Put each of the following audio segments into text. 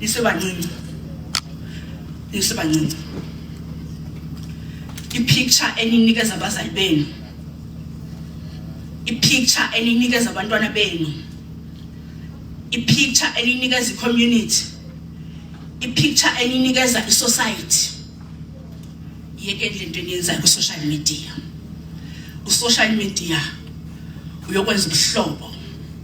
isebancinci isebancinci ipicture eninikeza abazali benu ipicture eninikeza abantwana benu ipicture eninikeza icommunity ipicture eninikeza isociety yekeni lento eniyenzayo ku-social media u-social media uyokwenza ubuhlobo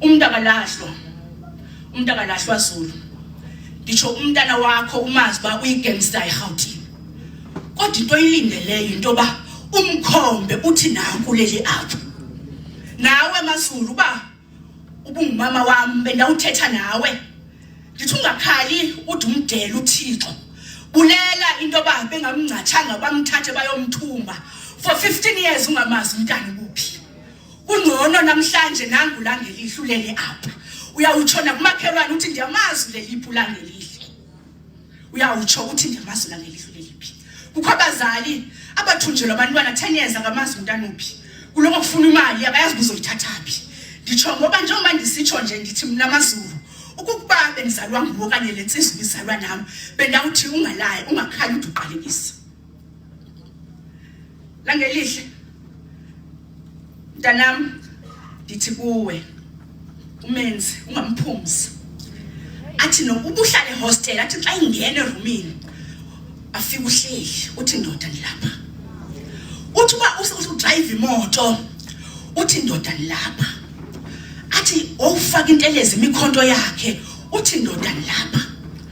umuntu akalahlwa umuntu akalahlwa zulu ngisho umntana wakho umazi uba uyigemsta irhawutini kodwa into oyilindeleyo into yoba umkhombe uthi nanku leli apho nawe mazulu uba ubungumama wami bendawuthetha nawe ngithi ungakhali ude umdela uthixo bulela into yoba bengamngcathanga bamthathe bayomthumba for 15 years ungamazi umntana Kungcono namhlanje nangu langelihle ulele apha. Uyawutshona kumakhelwane uthi ndiyamazi leliphu langelihle. Uyawutsho uthi ndiyamazi langelihle leliphi. Kukho abazali abathunjelwa abantwana 10 years akamazi umntana uphi. Kuloko kufuna imali abayazi kuzoyithathaphi. Nditsho ngoba njengoba ndisitsho nje ndithi mina mazulu ukuba bendizalwa nguwe okanye le nsizwa ibizalwa nam bendawuthi ungalayi ungakhali uduqalekisa Langelihle mntanam ndithi kuwe umenzi ungamphumzi athi nokuba uhlale ehostel athi xa ingena erumini afike uhleli uthi ndoda ndilapha uthi uba udrayive imoto uthi ndoda ndilapha athi wawufaka intelezi imikhonto yakhe uthi ndoda ndilapha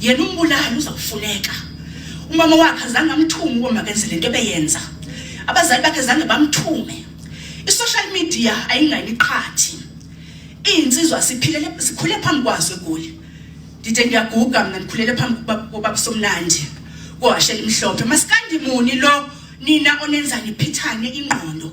yena umbulali uza kufuneka umama wakhe azange amthume ukuba makenze le nto ebeyenza abazali bakhe zange bamthume i-social media ayingani qhathi iy'nsizwa siphilele sikhule phambi kwazo egoli ndide ngiyaguga mna ndikhulele phambi kobabusomnandi kohashela imhlophe masikandimuni lo nina onenzani phithane ingqondo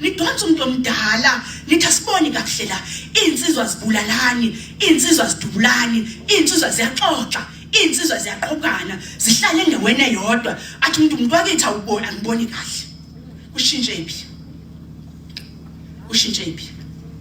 nidonsa umuntu omdala nithi asiboni kakuhle la iy'nsizwa zibulalani iy'nsizwa zidubulani iy'nsizwa ziyaxoxa iy'nsizwa ziyaqhokana zihlale endaweni eyodwa athi umuntu umuntu wakithi awuboni angiboni kahle kushintshe phi kushintshe phi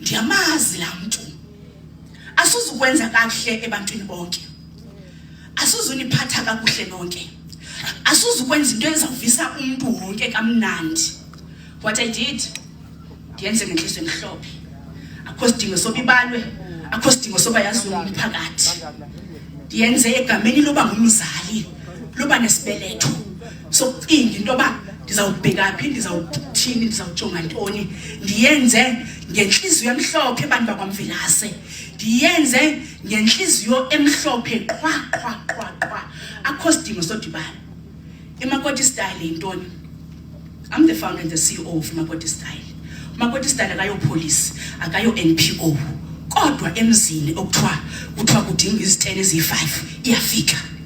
ndiyamazi laa mntu asuzukwenza kakuhle ebantwini bonke asuzuniphatha kakuhle nonke asuzukwenza into ezawuvisa umntu wonke kamnandi what i did ndiyenze ngenhliso emhlophe akho sidingo soba ibalwe akho sidingo soba yaziwe umphakathi ndiyenze egameni loba ngumzali loba nesibeletho sokucinga into yoba ndizawubheka phi ndizawuthini ndizawujonga ntoni ndiyenze ngentliziyo emhlophe abantu bakwamvelase ndiyenze ngentliziyo emhlophe qhwa qhwa qhwa qhwa akho sidingo sodibana imakoti style yintoni i'm the founder and the ceo of makoti style makoti style akayopolisi akayo-npo kodwa emzini okuthiwa kuthiwa kudinga izitene eziyi-five iyafika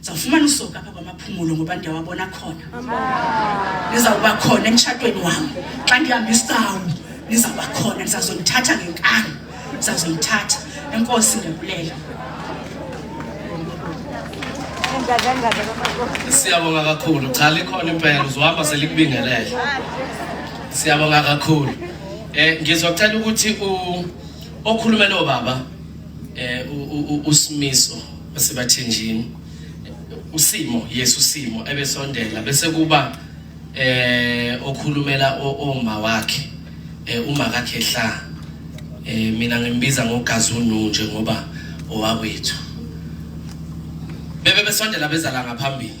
zawufumana usoka apha kwamaphumulo ngoba ndiyawabona khona nizawuba khona emtshatweni wam xa ndihamba isawu nizawuba khona ndizazonithatha ngenkani ndizazonithatha enkosi ndiyabulela siyabonga kakhulu cha likhona impela uzohamba selikubingelele siyabonga kakhulu eh ngizocela ukuthi u okhulumela obaba eh usimiso basebathenjini usimo yesu simo ebesondela bese kuba eh okhulumela oma wakhe eh, uma kakhe hla eh mina ngimbiza ngogazunu nje ngoba owakwethu bebe besondela bezala ngaphambili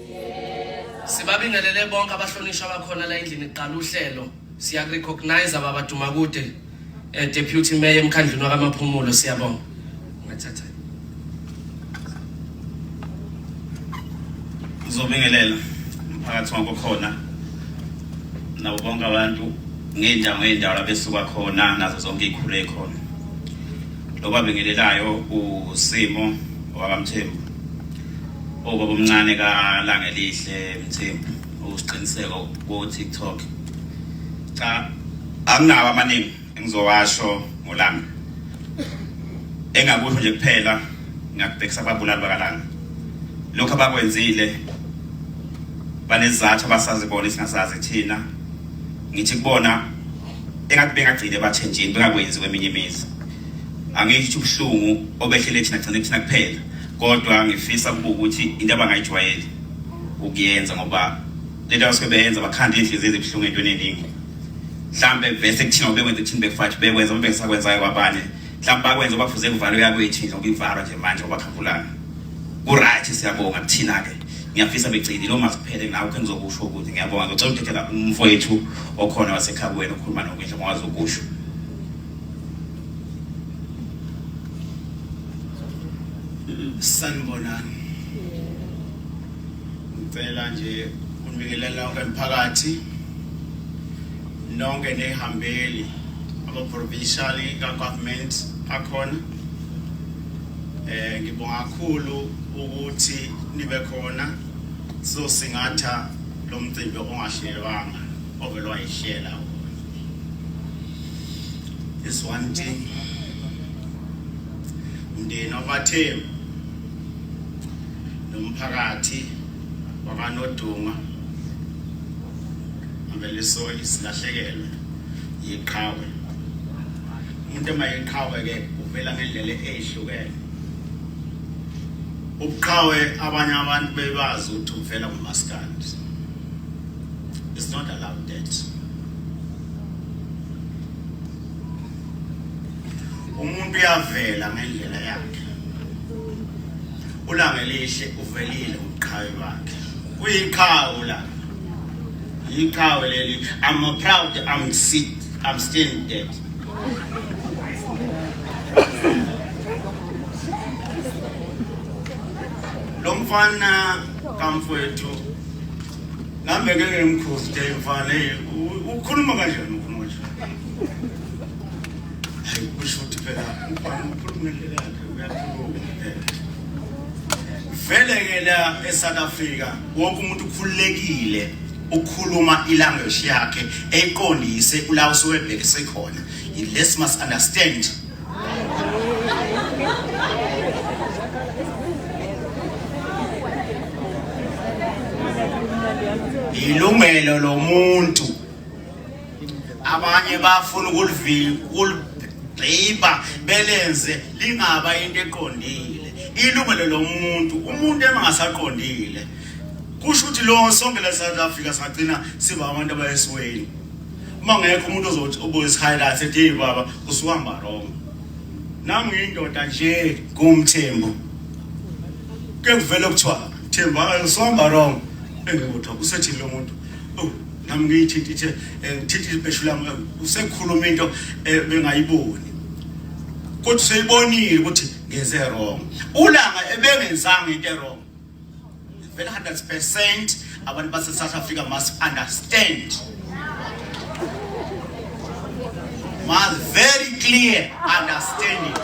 Sibabingelele bonke abahlonishwa abakhona la endlini kuqala uhlelo. Siya recognize ababa Dumakude eh, deputy mayor emkhandlwini wakamaphumulo siyabonga. Ngathatha. Uzobingelela umphakathi wonke khona nabo bonke abantu ngey'ndawo ngey'ndawo labesuka khona nazo zonke iy'khulu ey'khona lo babingelelayo usimo wakamthembu Ubaba omncane kaLangelihle Mthembu usiqiniseko ku-TikTok. Cha anginawo amaningi engizowasho ngolanga. Engakusho nje kuphela ngiyakubhekisa ababulali bakalanga. Lokho abakwenzile banezizathu abasazi bona singasazi thina. Ngithi kubona engathi bengagcine bathenjini bengakwenzi kweminye imizi. angisho ubuhlungu obehlele thina gcine thina kuphela kodwa ngifisa ukuba ukuthi into abangayijwayeli ukuyenza ngoba lento abasuke beyenza bakhanda iy'nhliziyo ezibuhlungu entweni eningi mhlawumbe vese kuthina obekwenza kuthini befathi bekwenza uma bengisakwenzayo kwabanye mhlawumbe bakwenza bafuze kuvalo yakwethu nje okuyivalwa nje manje obakhankulayo ku-right siyabonga kuthina-ke ngiyafisa begcini lo masiphele nawe khe ngizokusho ukuthi ngiyabonga ngicela ukuthethela umfowethu okhona wasekhaya kuwena okhuluma nokwindla ngwazi ukusho sanibonani ngicela nje unibingelela wonke mphakathi nonke nehambeli ama-provincial ka-government akhona eh ngibonga kakhulu ukuthi nibe khona sizosingatha lo mcimbi ongahlelwanga ovelwa yihlela This one thing. Umndeni wabathembu nomphakathi wakanoduma ngempela isoli silahlekelwe yiqhawe umuntu uma yiqhawe ke uvela ngendlela ezihlukene ubuqhawe abanye abantu bebazi ukuthi uvela kumaskandi It's not allowed that. Umuntu uyavela ngendlela yakhe. Ulanga elihle uvelile uqhawe wakhe. Kuyiqhawe ulanga. Yiqhawe leli. I'm proud I'm sit I'm staying dead. Lo mfana kamfowethu Nami ngeke ngimkhosi nje mfana hey ukhuluma kanjani ukhuluma nje. Hayi kusho ukuthi phela mfana ukhuluma ngendlela yakhe uyakhuluma. Vele ke la eSouth Africa wonke umuntu ukhululekile ukhuluma ilanguage yakhe eyiqondise kula usuwebhekise khona. Let's must understand ilungelo lomuntu abanye bafuna ukulibhiba belenze lingaba into eqondile ilungelo lomuntu umuntu engasaqondile kusho ukuthi lo sonke la South Africa sagcina siba abantu abayesweni uma ngekho umuntu ozothi uboys highlights ethi hey baba usuhamba wrong nami ngiyindoda nje kumthembu ke kuvela kuthiwa thembu usuhamba wrong engikuthi usethini lo muntu oh nami ngiyithinta ithe eh, ngithinta ibheshu lami eh, usekhuluma into eh, bengayiboni kodwa useyibonile ukuthi ngenze wrong ulanga ebengenzanga into wrong Vele 100% abantu base South Africa must understand. Must very clear understanding.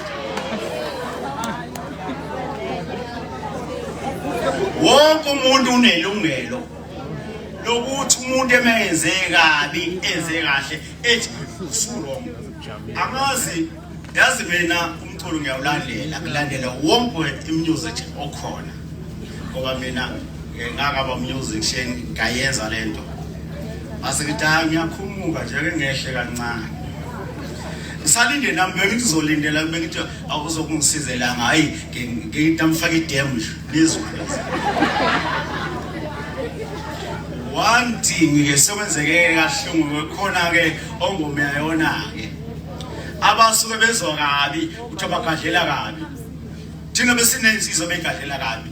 Wonke umuntu unelungelo lokuthi umuntu emenze kabi enze kahle ethi usurong. Angazi yazi mina umculo ngiyawulandela ngilandela wonke imusic okhona ngoba mina ngingakaba music sheni ngayenza le nto base ngithi hayi ngiyakhumuka nje ke ngehle kancane ngisalinde nami bengizolindela kube ngithi awuzokungisizelaanga hayi ngitamfaka idem nje lizokwenza one thing ke sekwenzeke kahlungu khona ke ongomeyayona ke abasuke bezwa kabi ukuthi abagadlela kabi thina besinensizwa begadlela kabi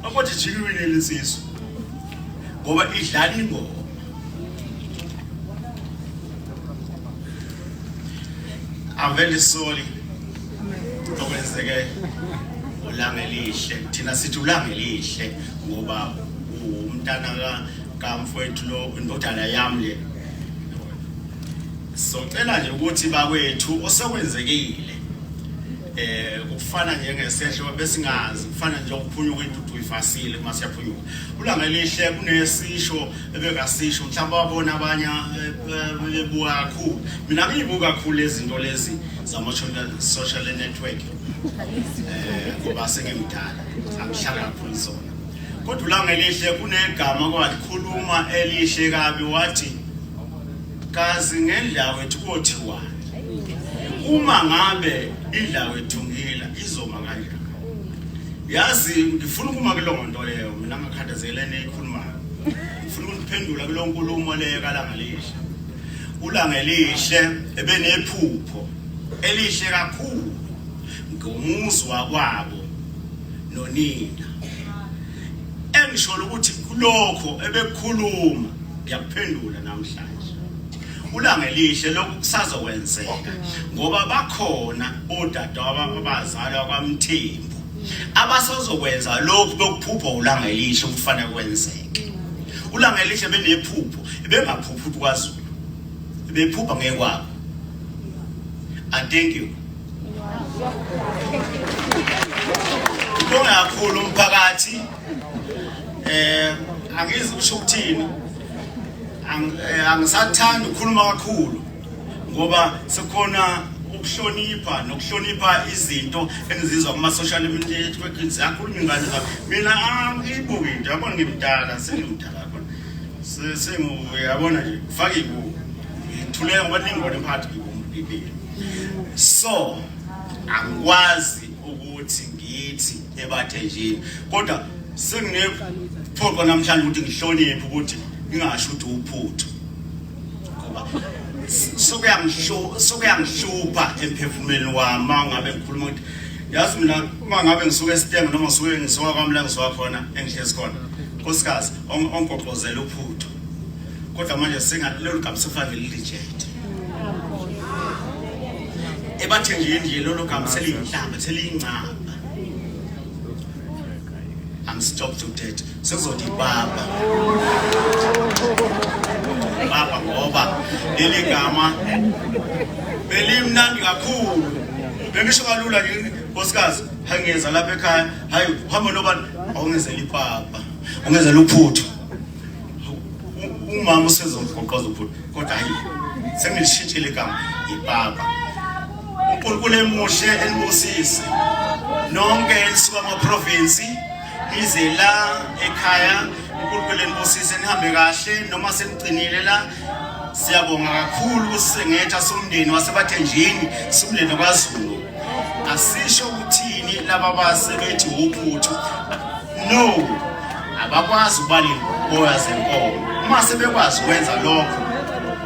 akothi jikiwile lesizwe ngoba idlala ingoma I'm very sorry okwenzeke ulanga elihle thina sithi ulanga elihle ngoba umntana ka kamfowethu lo indodana yami le Sizocela nje ukuthi bakwethu osekwenzekile eh kufana njengesehlo besingazi kufana nje ukuphunyuka intuthu uyifasile uma siyaphunyuka ulanga elihle kunesisho ebekasisho mhlawumbe wabona abanye eh, eh, ebuka kakhulu mina ngiyibuka kakhulu izinto lezi zama social network eh ngoba sengimdala angihlala kakhulu zona kodwa ulanga elihle kunegama kwalikhuluma elihle kabi wathi Kazi ngendlawethu kothiwani? Uma ngabe indlawethu ngila izoma kanjani? Yazi ngifuna ukuma kuleyo nto leyo mina ngakhathazelene ekhulumayo. Ngifuna ukuphendula kulo nkulumo leyo kalanga lihle. Ulanga elihle ebenephupho elihle kakhulu ngomuzi wakwabo nonina Engishola ukuthi kulokho ebekhuluma ngiyakuphendula namhlanje. Ulanga elihle lokhu kusazokwenzeka ngoba bakhona odadewabo abazalwa kwaMthembu abasazokwenza lokhu bekuphupha ulanga elihle ukufanele kwenzeke. Ulanga elihle benephupho bengaphuphi kwaZulu. Bephupha ngekwabo. I thank you. Kulunge kakhulu umphakathi eh angizi kusho ukuthini eh, angisathanda ukukhuluma kakhulu ngoba sekhona ukuhlonipha nokuhlonipha izinto engizizwa kuma social network ziyakhuluma ingane zami mina angibuki nje yabona ngimdala sengimdala yabona sengu yabona nje faka ibuku ngithuleka ngoba ningibona emphakathi ngibukile so angikwazi ukuthi ngithi ebathenjini kodwa senginephoqo namhlanje ukuthi ngihloniphe ukuthi ngingasho ukuthi uphutho ngoba sokuyangihlupha emphefumulweni wami uma ngabe ngikhuluma ukuthi yazi mina uma ngabe ngisuke esitenge noma ngisuke ngisuka kwami la ngisuka khona engihlezi khona nkosikazi ongoqozela uphutho kodwa manje singalolu gama sekufanele lilijede ebathe nje nje lolo gama seliyinhlamba seliyingcaba I'm stopped to dead sekuzothi baba baba ngoba leli gama belimnandi kakhulu bengisho kalula yini nkosikazi hayi ngiyeza lapha ekhaya hayi uhamba nobani awungenzela ipapa ungenzela uphuthu umama usezogoqoza uphuthu kodwa hayi sengilishintshile igama ibaba unkulunkulu emuhle enibusise nonke enisuka amaprovinsi nize la ekhaya unkulunkulu enibusise nihambe kahle noma senigcinile la siyabonga kakhulu ukusengetha somndeni wasebathenjini somndeni kwazulu asisho ukuthini laba basebethi wuphuthu No, abakwazi ukuba ney'boya zenkomo. Uma sebekwazi ukwenza lokho,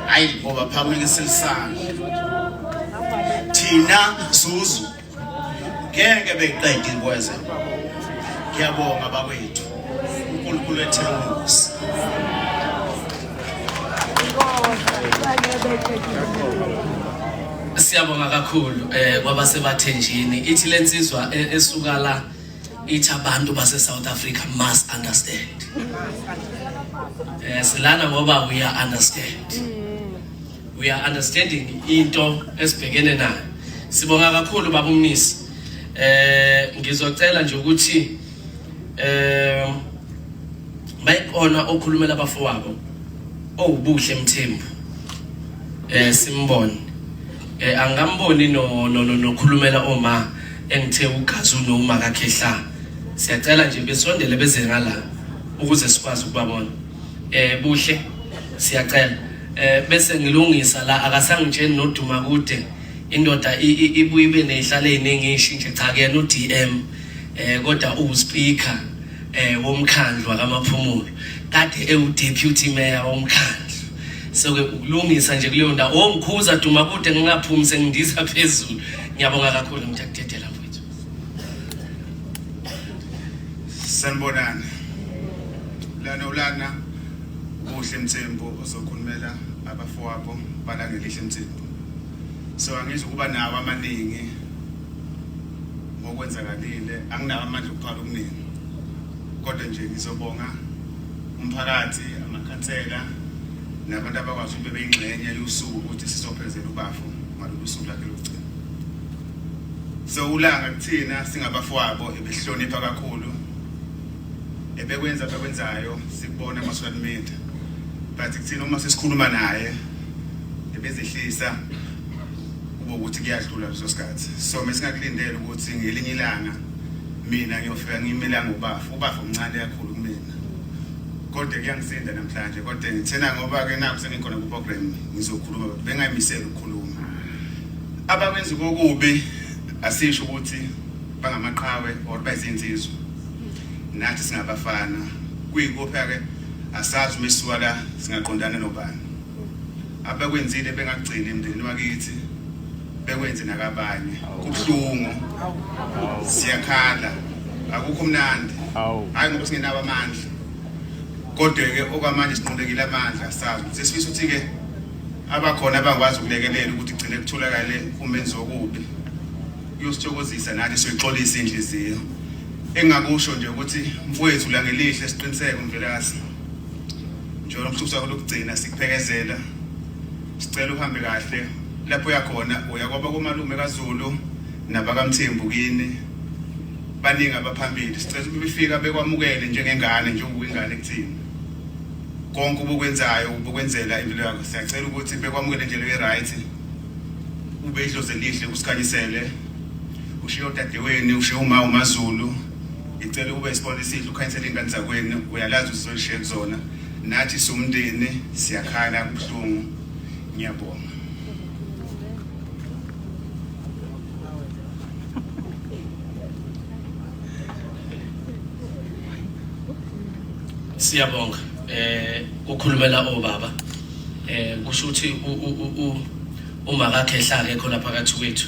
hhayi ngoba phamile silisana. Thina Zuzu ngeke beqede iy'boya zenkomo. Ngiyabonga bakwethu. uNkulunkulu ethele umusa. Siyabonga kakhulu eh kwabasebathenjini ithi lensizwa e- esuka la ithi abantu base South Africa must understand eh silana ngoba we are understand we are understanding into esibhekene nayo sibonga kakhulu baba umnisi eh ngizocela nje ukuthi eh bayikona okhulumela abafowabo owubuhle mthembu eh simbone Eh angamboni no no nokhulumela no, no, oma engithe ugazi unoma kakhehla. Siyacela nje besondele beze ngala ukuze sikwazi ukubabona. Eh buhle siyacela. Eh bese ngilungisa la akasangitsheni noduma kude. Indoda ibuye ibe nezihlale eziningi ishintshe cha kuyena uDM eh kodwa uwuspeaker eh womkhandlu akamaphumulo kade ewu deputy mayor womkhandlu soke ukulungisa nje kuleyo ndawo o oh, mkhuza duma kude ngingaphumi sengindiza phezulu ngiyabonga kakhulu mthakudedela mfethu sanibonani lana ulana kuhle mthembu ozokhulumela abafowabo balangelihle mthembu so angizi ukuba nawo amaningi ngokwenzakalile anginawo amandla okuphala okuningi kodwa nje ngizobonga umphakathi amakhansela nabantu abakwazi ukuthi bebeyingxenye yosuku ukuthi sizophezela ubafo ngalolu suku lakhe lokugcina so ulanga kuthina singabafowabo ebehlonipha kakhulu ebekwenza abekwenzayo sikubona ama-social media but kuthina uma sesikhuluma naye ebezehlisa kube ukuthi kuyadlula leso sikhathi so mesingakulindele ukuthi ngelinye ilanga mina ngiyofika ngimelanga ubafa ubafa umncane kakhulu kumina kodwa kuyangisinda namhlanje kodwa ngithena ngoba-ke naku sengikhona ku-program ngizokhuluma kodwa bengayimisela ukukhuluma abakwenza kokubi asisho ukuthi bangamaqhawe or bayizinsizwa nathi singabafana kuyikuphi-ke asazi uma sisuka la singaqondana nobani abekwenzile bengagcini emndenini wakithi bekwenze nakabanye kubuhlungu siyakhala akukho mnandi hayi ngoba singenabo amandla kodwa-ke okwamanje sinqulekile amandla sazi ukuthi sifisa ukuthi-ke abakhona abangikwazi ukulekelela ukuthi gcine kutholakale umenzi wokubi kuyosithokozisa nathi siyoyixolisa inhliziyo engakusho nje ukuthi mfowethu langelihle siqiniseke umvelasi njengoba umsuku wakho lokugcina sikuphekezela sicela uhambe kahle lapho uyakhona uya kwaba komalume kaZulu nabakamthembu kini baningi abaphambili sicela ukuthi befika bekwamukele njengengane njengoba ingane kuthina konke ubukwenzayo ubukwenzela impilo yakho siyacela ukuthi bekwamukele nje leyo right ube idlozi elihle usikhanyisele ushiye odadeweni ushiye uma umaZulu Ngicela ukuba isibona esihle ukhanyisela ingane zakwenu uyalazi usizolishiya kuzona nathi siwumndeni siyakhala kubuhlungu ngiyabonga siyabonga eh ukhulumela obaba eh kusho ukuthi uma kakhe hlake khona phakathi kwethu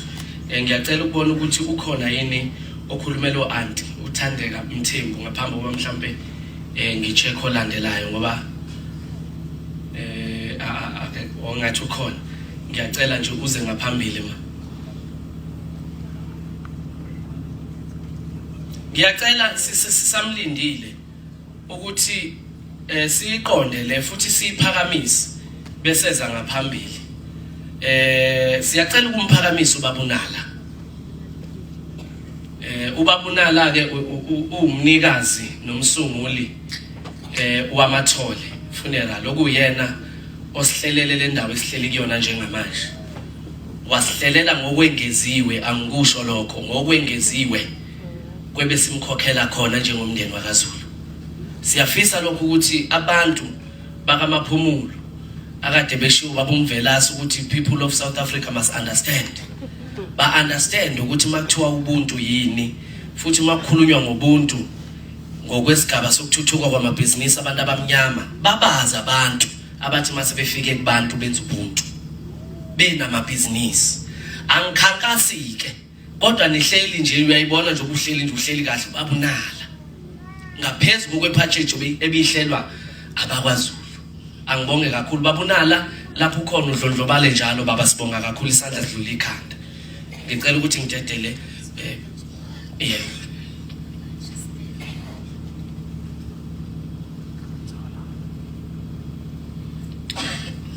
eh, ngiyacela ukubona ukuthi ukhona yini okhulumela o-anti uthandeka mthembu ngaphambi kokuba mhlawumpe um eh, ngi-check olandelayo ngoba um ongathi ukhona ngiyacela nje uze ngaphambili ma ngiyacela sisamlindile ukuthi eh siyiqonde le futhi siyiphakamise beseza ngaphambili eh siyacela ukumphakamisa ubabunala eh ubabunala ke uwumnikazi nomsunguli eh wamathole funeral okuyena osihlelele le ndawo esihleli kuyona njengamanje wasihlelela ngokwengeziwe angikusho lokho ngokwengeziwe kwebe simkhokhela khona njengomndeni wakaZulu siyafisa lokhu ukuthi abantu bakamaphumulo akade beshiwo babumvelasi ukuthi people of South Africa must understand ba understand ukuthi makuthiwa ubuntu yini futhi makukhulunywa ngobuntu ngokwesigaba sokuthuthuka kwamabhizinisi abantu abamnyama babaza abantu abathi mase befike kubantu benza ubuntu benamabhizinisi angikhankasike kodwa nihleli nje uyayibona nje ubuhleli nje uhleli kahle babunala ngaphezu kokwephatshejo ebihlelwa abakwazulu angibonge kakhulu babunala lapho ukhona udlondlobale njalo baba sibonga kakhulu isandla sidlula ikhanda ngicela ukuthi ngidedele eh yeah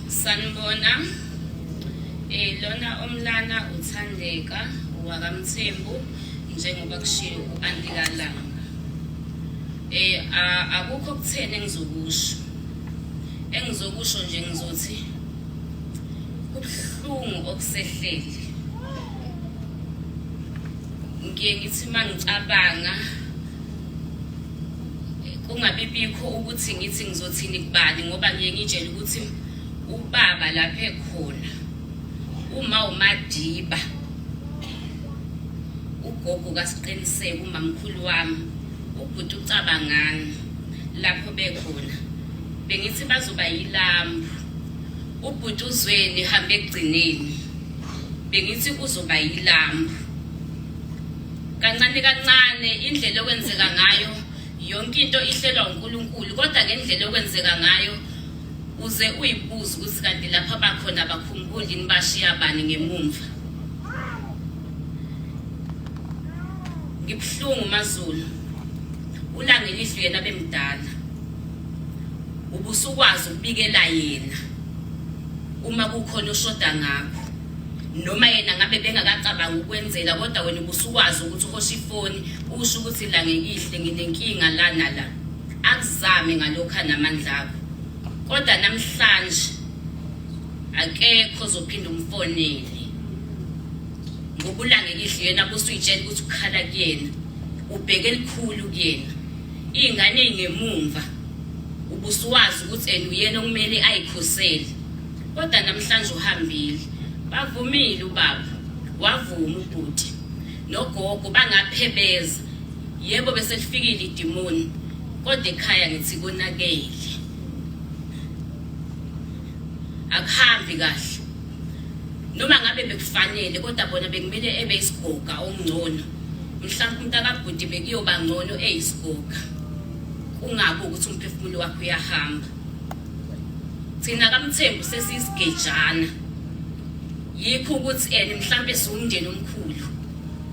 sanibona eh lona omlana uthandeka wakamthembu njengoba kushiwo uantikalanga eh akukho kutheni engizokusho engizokusho nje ngizothi kubuhlungu okusehlele ngiye ngithi uma ngicabanga kungabi bikho ukuthi ngithi ngizothini kubani ngoba ngiye ngitshele ukuthi ubaba lapha ekhona uma umadiba ugogo kasiqiniseke umamkhulu wami ubhuti ucabangani lapho bekhona bengithi bazoba yilambu Ubhuti uZweni hambe ekugcineni. Bengithi uzoba yilambu. Kancane kancane indlela okwenzeka ngayo yonke into ihlelwa uNkulunkulu kodwa ngendlela okwenzeka ngayo uze uyibuze ukuthi kanti lapha bakhona abakhumbuli yini bashiya bani ngemumva. Ngibuhlungu maZulu. Ulangelihlwe yena bemdala. ubusukwazi ukubikela yena uma kukhona oshoda ngakho noma yena ngabe bengakacabangi ukwenzela kodwa wena ubusukwazi ukuthi uhoshe ifoni usho ukuthi la ngekihle nginenkinga la nala akuzame ngalokho anamandla akho kodwa namhlanje akekho ozophinda umfonele ngokulangekihle yena busuyitshela ukuthi ukhala kuyena ubheke elikhulu kuyena Iy'ngane ey'ngemumva ubusuwazi ukuthi and uyena okumele ayikhosele kodwa namhlanje uhambile bavumile ubaba wavuma ubhuti nogogo bangaphebeza yebo bese lifikile idimoni kodwa ekhaya ngithi konakele akuhambi kahle noma ngabe bekufanele kodwa bona bekumele ebe isigoga omngcono mhlawumbe umntakabhuti bekuyoba ngcono eyisigoga kungabi ukuthi umphefumulo wakho uyahamba thina kamthembu sesiyisigejana yikho ukuthi and mhlawumbe siwumndeni omkhulu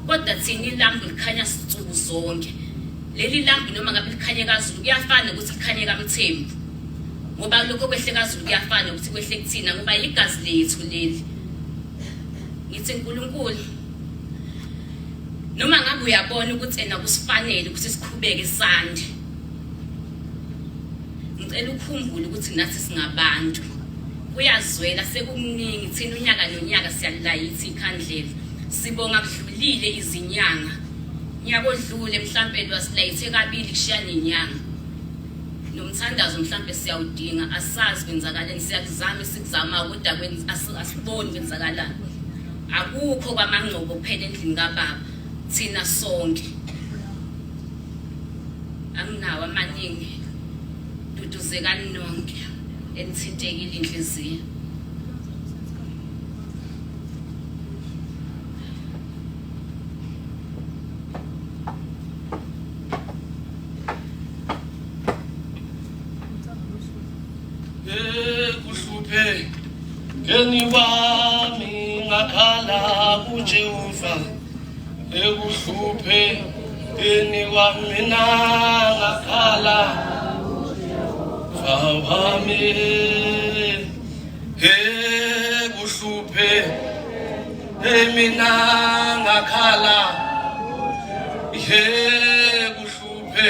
kodwa thina ilambu likhanya sinsuku zonke leli lambu noma ngabe likhanye kazulu kuyafana ukuthi likhanye kamthembu ngoba lokho kwehle kazulu kuyafana ukuthi kwehle kuthina ngoba yigazi lethu leli ngithi nkulunkulu noma ngabe uyabona ukuthi ena kusifanele ukuthi siqhubeke sande ngicela ukhumbule ukuthi nathi singabantu kuyazwela sekuningi thina unyaka nonyaka siyalilayithi ikhandlela sibonga kudlulile izinyanga nyaka odlule mhlampe lwasilayithe kabili kushiya nenyanga nomthandazo mhlampe siyawudinga asazi kwenzakaleni siyakuzama sikuzama kodwa asiboni kwenzakalani Akukho kwamangcobo kuphela endlini kababa thina sonke. Anginawo amaningi. Duduzekani nonke enithintekile inhliziyo. kuhluphe ngeni wami ngakhala kujehova ekuhluphe ngeni wami na ngakhala wami he kuhluphe emina ngakhala he kuhluphe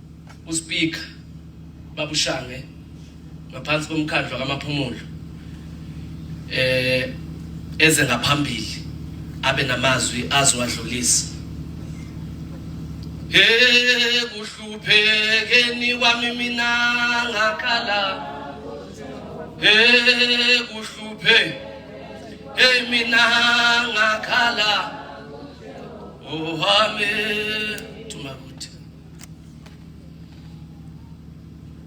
uSpeaker babushange ngaphansi komkhandlu kamaphumulo eh eze ngaphambili abe namazwi azowadlulisa Hey kuhluphekeni kwami mina ngakhala Hey kuhluphe Hey mina ngakhala Oh amen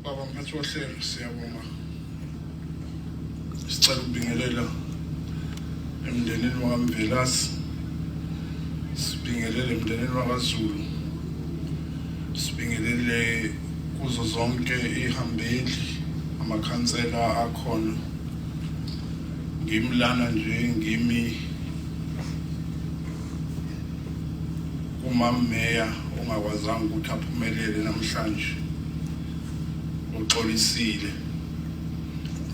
Baba mphathi wohlelo siyabonga. Sicela ukubingelela emndenini wakamvelasi sibingelele emndenini wakazulu sibingelele kuzo zonke ihambeli amakhansela akhona ngimlana nje ngimi Umammeya ongakwazanga ukuthi aphumelele namhlanje uxolisile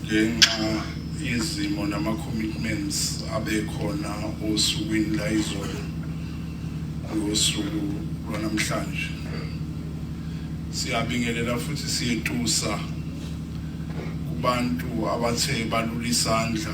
ngenxa yezimo nama-commitments abekhona osukwini la izolo ngosuku lwanamhlanje siyabingelela futhi siyetusa kubantu abathe balula isandla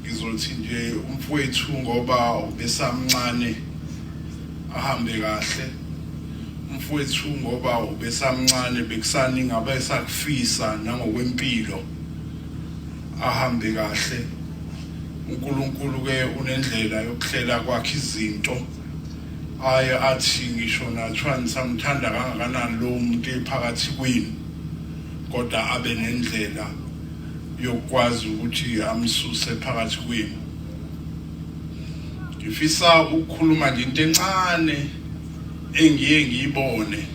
Ngizothi nje umfowethu ngoba ubesamncane ahambe kahle. Umfowethu ngoba ubesamncane bekusani ngabe sakufisa nangokwempilo ahambe kahle. uNkulunkulu ke unendlela yokuhlela kwakhe izinto aye athi ngisho nathiwa nisamthanda kangakanani lowo muntu ephakathi kwenu kodwa abe nendlela yokwazi ukuthi amsuse phakathi kwenu ngifisa ukukhuluma nje into encane engiye ngiyibone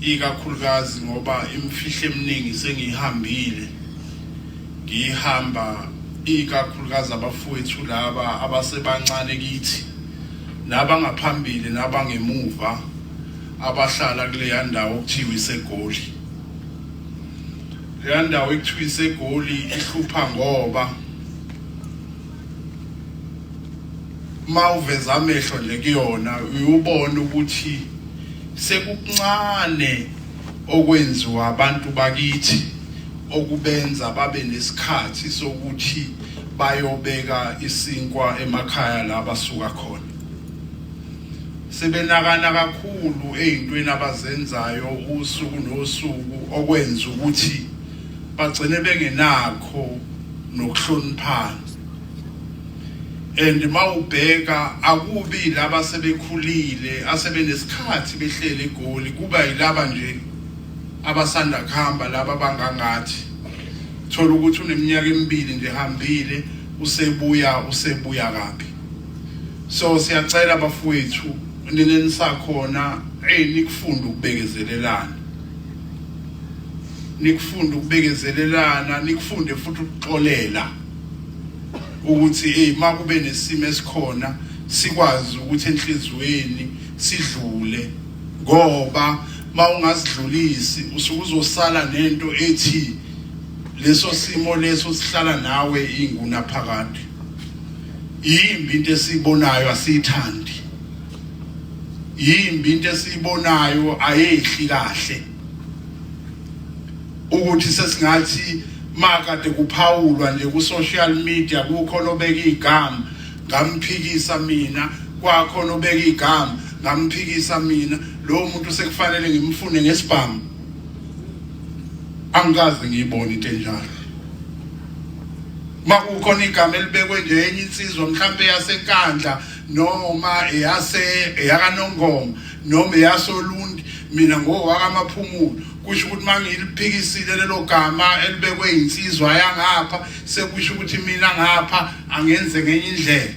ikakhulukazi ngoba imfihlo eminingi sengihambile ngihamba ikakhulukazi abafowethu laba abasebancane kithi nabangaphambili nabangemuva abahlala kuleya ndawo okuthiwa isegoli leya ndawo ekuthiwa isegoli ihlupha ngoba uma uveza amehlo nje kuyona uyubona ukuthi sekukuncane okwenziwa abantu bakithi okubenza babe nesikhathi sokuthi bayobeka isinkwa emakhaya la basuka khona sebenakana kakhulu ey'ntweni abazenzayo usuku nosuku okwenza ukuthi bagcine bengenakho nokuhloniphana and mawubheka akubi laba sebekhulile asebenesikhathi behlele egoli kuba yilaba nje abasanda kuhamba laba bangangathi thola ukuthi uneminyaka emibili nje hambile usebuya usebuya kabi so siyacela bafowethu nina nisakhona hey nikufunda ukubekezelelana nikufunda ukubekezelelana nikufunde futhi ukuxolela ukuthi hey makube nesimo esikhona sikwazi ukuthi enhlizweni sidlule ngoba mawungasidlulisi usuke uzosala nento ethi leso simo leso sihlala nawe inguna phakade yimbi into esiyibonayo asiyithandi yimbi into esiyibonayo ayehli kahle ukuthi sesingathi makade kuphawulwa nje ku social media kukho lobeka igama ngamphikisa mina kwakho lobeka igama ngamphikisa mina lo muntu sekufanele ngimfune ngesibhamu angikaze ngiyibone into enjalo makukhona igama elibekwe nje enye insizwa mhlampe yasenkandla noma eyase eyakanongoma noma eyasolundi mina ngowakamaphumulo kusho ukuthi mangiliphikisile lelo gama elibekwe insizwa yangapha sekusho ukuthi mina ngapha angenze ngenye indlela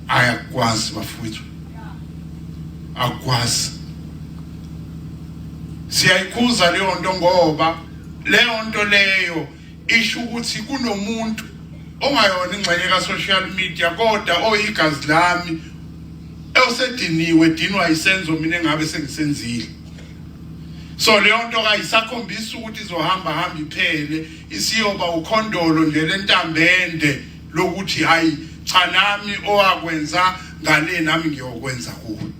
ayakwazi bafowethu akwazi siyayikhuza leyo nto ngoba leyo nto leyo isho ukuthi kunomuntu ongayona ingxenye ka-social media kodwa oyigazi lami osediniwe dinwa isenzo mina engabe sengisenzile so leyo nto kayisakhombisa ukuthi izohamba hamba iphele isiyoba ukhondolo nje lentambende lokuthi hayi cha nami owakwenza ngale nami ngiyokwenza kuwe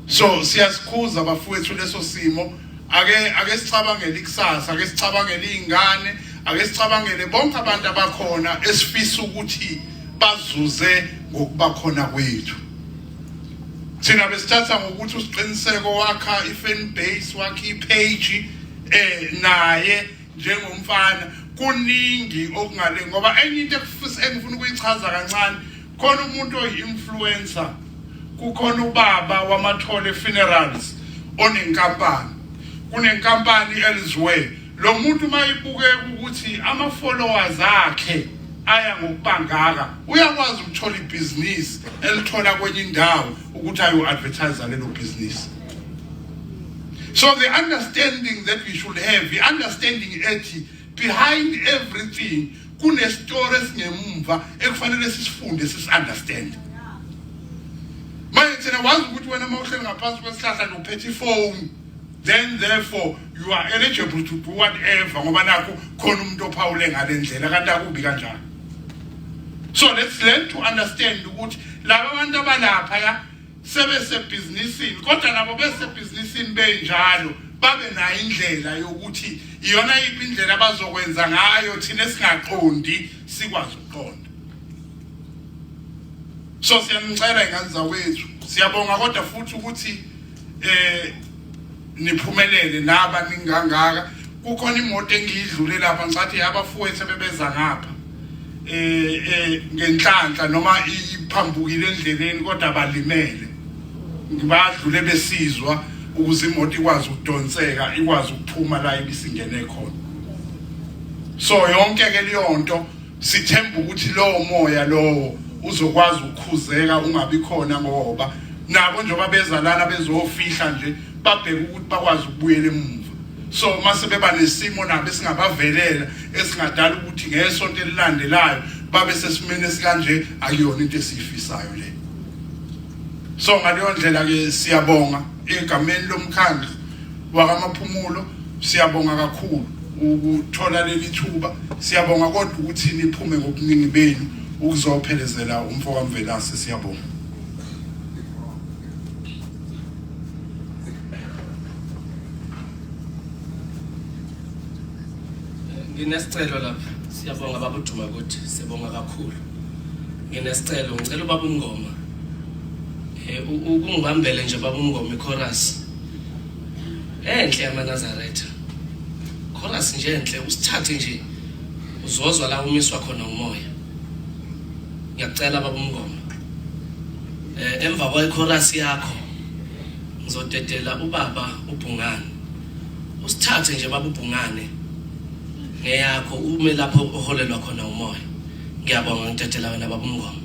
so siyasikhuza bafowethu leso simo ake ake sicabangele ikusasa ake sicabangele izingane ake sicabangele bonke abantu abakhona esifisa ukuthi bazuze ngokuba khona kwethu thina besithatha ngokuthi usiqiniseko wakha i-fan base wakha i-page eh naye njengomfana kuningi okungale ngoba enye into engifuna ukuyichaza kancane khona umuntu oyi-influencer kukhona ubaba wamathole funerals onenkampani kunenkampani elsewhere lo muntu uma ibukeka ukuthi ama-followers akhe aya ngokubangaka uyakwazi ukuthola ibhizinisi elithola kwenye indawo ukuthi ayo-advertise lelo bhizinisi so the understanding that we should have i-understanding ethi behind everything kunestori esingemumva ekufanele sisifunde sisi-understande manje thina wazi ukuthi wena uma uhleli ngaphansi kwesihlahla nokuphetha ifoni then therefore you are eligible to do whatever ngoba nakho khona umuntu ophawule ngale ndlela kanti akubi kanjalo so let's learn to understand ukuthi laba bantu abalaphaya sebesebhizinisini kodwa nabo besebhizinisini benjalo babe nayo indlela yokuthi iyona yiphi indlela abazokwenza ngayo thina singaqondi sikwazi ukuqonda so siyanicela ingane zawethu siyabonga kodwa futhi ukuthi eh niphumelele naba ningangaka kukhona imoto engiyidlule lapha ngicathi abafowethu bebeza ngapha eh, eh ngenhlanhla noma iphambukile endleleni kodwa balimele ngibadlule besizwa ukuze imoto ikwazi ukudonseka ikwazi ukuphuma la ibisingene khona so yonke ke leyonto Sithemba ukuthi lowo moya lowo uzokwazi ukukhuzeka ungabi khona ngoba nabo njengoba beza lana bezofihla nje babheke ukuthi bakwazi ukubuyela emuva so mase beba nesimo nabo esingabavelela esingadala ukuthi ngesonto elilandelayo babe sesimene sikanje akuyona into esiyifisayo le so ngaleyo ndlela ke siyabonga egameni lomkhandlu wakamaphumulo siyabonga kakhulu ukuthola leli thuba siyabonga kodwa ukuthi niphume ngobuningi benu ukuzophelezela umfo kamvelase siyabonga nginesicelo lapha siyabonga babuduma ukuthi sibonga kakhulu nginesicelo ngicela ubaba umngoma eh, ukungibambele nje baba umngoma ichorus enhle yamanazaretha chorus nje enhle usithathe nje uzozwa la umiswa khona umoya ngiyacela baba umngoma eh emva kwechorus yakho ngizodedela ubaba ubhungane usithathe nje baba ubhungane ngeyakho ume lapho oholelwa khona umoya Ngiyabonga ngidedela wena baba uMngoma.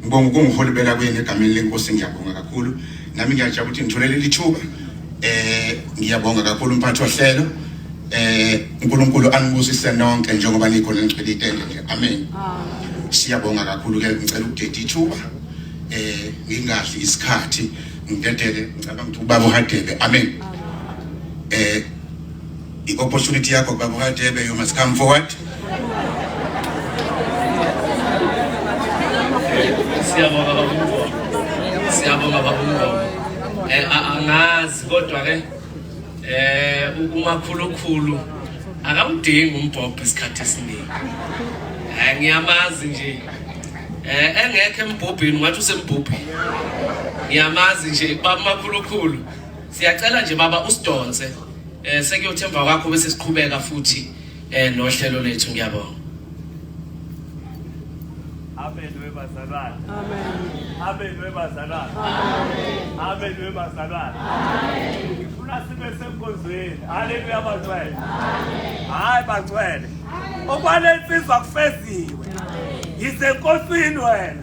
Ngibonga ukungiholibela kwenu egameni lenkosi ngiyabonga kakhulu. Nami ngiyajabula ukuthi ngithole leli thuba. Eh ngiyabonga kakhulu umphathi ohlelo. Eh uNkulunkulu anibusise nonke njengoba nikhona ngicela itende nje. Amen. Siyabonga kakhulu ke ngicela ukudeda ithuba. Eh ngingazi isikhathi ngidedele ngicabanga ukuthi ubaba uhadebe. Amen. Eh I opportunity yakho baba Hadebe you must come forward. Siyabonga baba Mngoma. Siyabonga baba Mngoma. Eh angazi kodwa ke eh ukumakhulukhulu akawudingi umbhobho isikhathi esiningi. Eh ngiyamazi nje. Eh engekho embhobhini ngathi usembhobhini. Ngiyamazi nje baba makhulukhulu. Siyacela nje baba usidonse. Eh sekuyothi emva kwakho bese siqhubeka futhi eh nohlelo lethu ngiyabonga. Amen webazalwane. Amen. Amen webazalwane. Amen. Amen webazalwane. Amen. Ngifuna sibe senkonzweni. Haleluya bangcwele. Amen. Hayi bangcwele. Okwalensizwa kufeziwe. Amen. Yisenkosini wena.